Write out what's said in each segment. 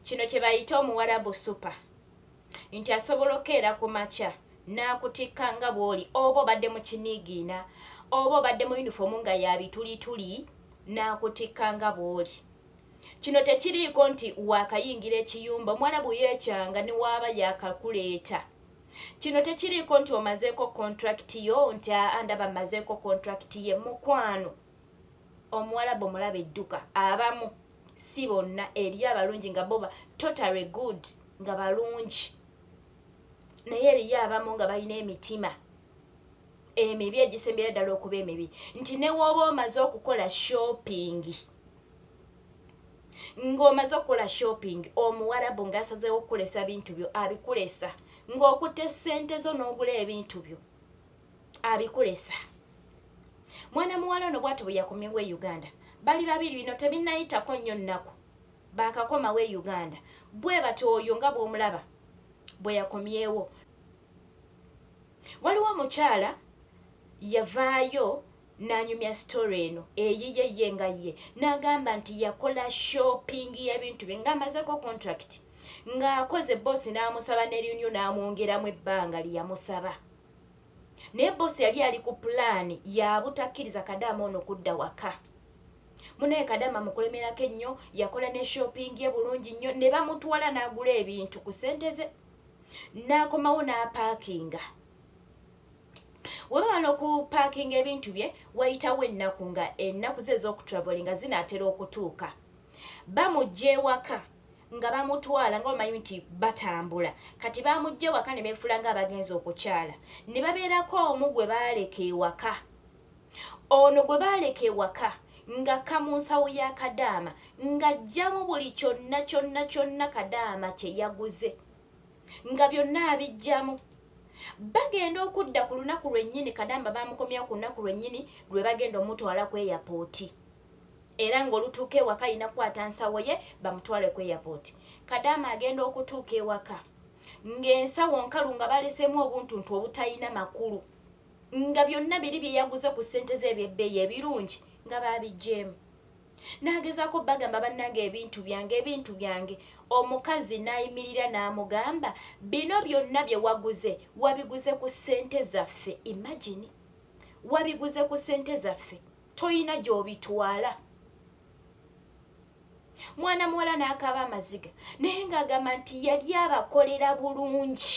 Kino kye bayita omuwarabu super nti asobola okeera ku makya n'akutikka nga bw'oli oba obadde mu kiniigiina oba obadde mu yunifoomu nga ya bitulituli n'akutikka nga bw'oli. Kino tekiriiko nti waakayingira ekiyumba, omuwarabu yeecanga ne w'aba yaakakuleeta. Kino tekiriiko nti omazeeko kontulakiti yo nti aa ndaba mmazeeko kontulakiti ye, mukwano. omuwalabu omulabe dduka abamu si bonna eriyo abalungi nga boba totally good nga balungi naye eriyo abamu nga balina emitima emibi egisembera ddala okuba emibi nti newooba omaze okukola shopping ng'omaze okukola shopping omuwarabu ng'asazeewo okukulesa bintu byo abikulesa ng'okutte ssente zo n'ogula ebintu byo abikulesa mwana muwala ono bwati bweyakomyewo e uganda bali babiri bino tebinayitako nnyo nnaku bakakomawo e uganda bwebati oyo nga bwomulaba bweyakomyewo waliwo omukyala yavaayo nanyumya story eno eyiye ye nga ye nagamba nti yakola shopping yebintu bye nga amazeko contract ng'akoze boosi n'amusaba ne renew n'amwongeramu ebbanga lyeyamusaba Naye boss yali ali ku plan yabutakiriza kadama ono kudda waka. Munaye kadama mukulemerako ennyo yakola ne shopping ye bulungi nnyo ne bamutwala nagula ebintu ku sente ze nakomawo napakinga. Webaba noku parking ebintu bye wayitawo ennaku nga ennaku ze ezokutravelinga zinatera okutuuka bamujja ewaka. nga bamutwala nga bamanyi nti batambula kati baamuggya ewaka ne beefuula ng'abagenze okukyala ne babeerako omu gwe baaleka ewaka. Ono gwe baaleka ewaka ng'akka mu nsawo ya Kadaama ng'aggyamu buli kyonna kyonna kyonna Kadaama kye yaguze nga byonna abiggyamu. Bagenda okudda ku lunaku lwennyini Kadaama baamukomyawo ku lunaku lwennyini lwe bagenda omutwala ku eyapooti. era nga olutuuka ewaka alina kukwata nsawo ye bamutwale ku airport. Kadaama agenda okutuuka ewaka nga ensawo nkalu nga baleseemu obuntuntu obutalina makulu nga byonna biri bye yaguze ku ssente ze eby'ebbeeyi ebirungi nga baabiggyemu. N'agezaako bagamba bannange ebintu byange, ebintu byange, omukazi n'ayimirira n'amugamba bino byonna bye waguze wabiguze ku ssente zaffe, imagine! Wabiguze ku ssente zaffe. toyina gyobitwala mwana muwala n'akaaba amaziga naye ng'agamba nti yali abakolera bulungi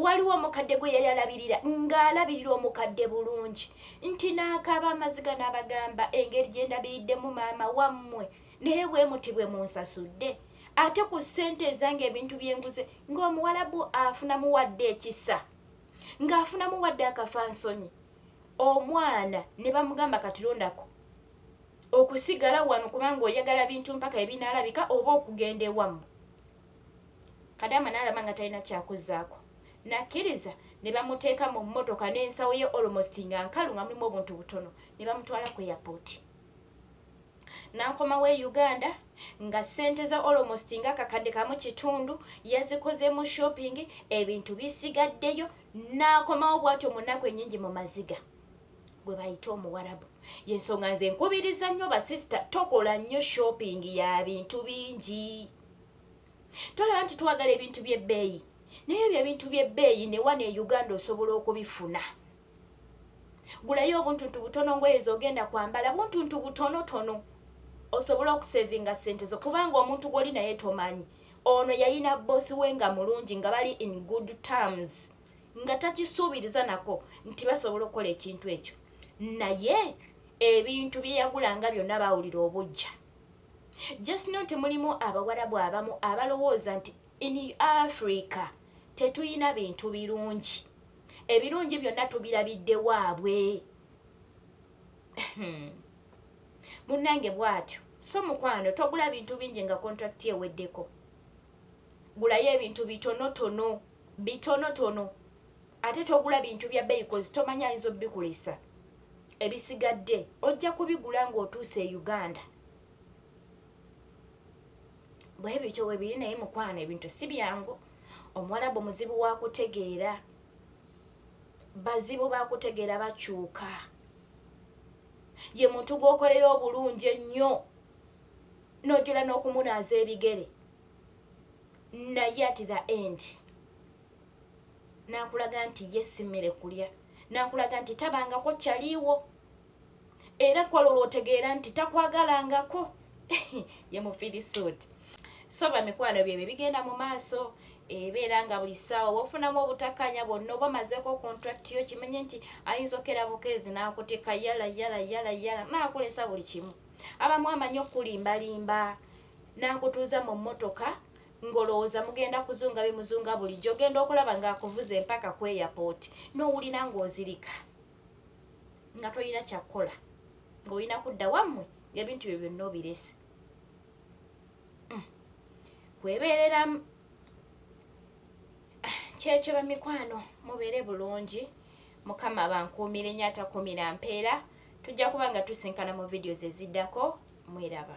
waliwo omukadde gwe yali alabirira ng'alabirira omukadde bulungi nti n'akaaba amaziga n'abagamba engeri gye ndabiriddemu maama wammwe naye bwe muti bwe munsasudde ate ku ssente ezange ebintu byenguze ng'omuwalabu afunamuwadde ekisa ng'afunamu wadde akafansonyi omwana ne bamugamba katilondako okusigala wano kubanga oyagala bintu mpaka ebinaalabika oba okugenda ewammwe kadaama n'alaba nga talina kyakuzaako nakkiriza ne bamuteeka mu mmotoka n'ensawo ye almost nga nkalu nga mulimu obuntu butono ne bamutwala ku yapooti nankomawo e uganda nga sente za almost nga akakadde kamu kitundu yazikozemu shopping ebintu bisigaddeyo nakomawo bwatyo munaku enyingi mu maziga gwe bayita omuwarabu yensonga nze nkubiriza nnyo basista tokola nnyo shopping ya bintu bingi tolaba nti twagala ebintu byebbeeyi naye ebyo ebintu byebbeeyi newano e uganda osobola okubifuna Gulayo obuntuntu butono ngoye zogenda kwambala buntuntu butono tono osobole okusevinga sente zo kubanga omuntu gwoli naye tomanyi ono yayina bosi we nga mulungi nga bali in good terms nga takisuubiriza nako nti basobola okukola ekintu ekyo naye ebintu byeyagulanga byonna bawulira obujja just no nti mulimu abawarabu abamu abalowooza nti in africa tetuyina bintu birungi ebirungi byonna tubirabidde waabwe munnange bwatyo so mukwano togula bintu bingi nga kontrakiti eweddeko gulayo ebintu bitonotono bitonotono ate togula bintu bya beyi kozi tomanya ayinza obikulesa ebisigadde ojja kubigula ng'otuuse e uganda bwebityo webiri naye mukwano ebintu si byangu omuwalabu muzibu wakutegeera bazibu bakutegeera bakyuka ye muntu gwokolera obulungi ennyo nojula n'okumunaaza ebigere naye at the end nakulaga nti ye simmere kulya nakulaga nti tabangako kyaliiwo era kwolwo lwotegeera nti takwagalangako ye mufirisuuti so bamikwano ebyo ebyo bigenda mu maaso ebeera nga buli ssaawa wofunamu obutakkaanya bwonna oba omazeeko contract yo kimenye nti ayinza okukera bukeezi n'akutikka yala yala yala yala naakulesa buli kimu abamu amanyi okukulimbalimba n'akutuuza mu mmotoka ng'olowooza mugenda kuzunga bye muzunga bulijjo ogenda okulaba ng'akuvuze mpaka ku airport n'owulira ng'ozirika nga tolina kyakukola ng'olina kudda wammwe ng'ebintu byo byonna obirese mm. kwebeereramu ah, kyekyo bamikwano mubeere bulungi mukama bankuumire nyo atakuumira mpeera tujja kuba nga tusinkana mu vidiyo zeziddako mweraba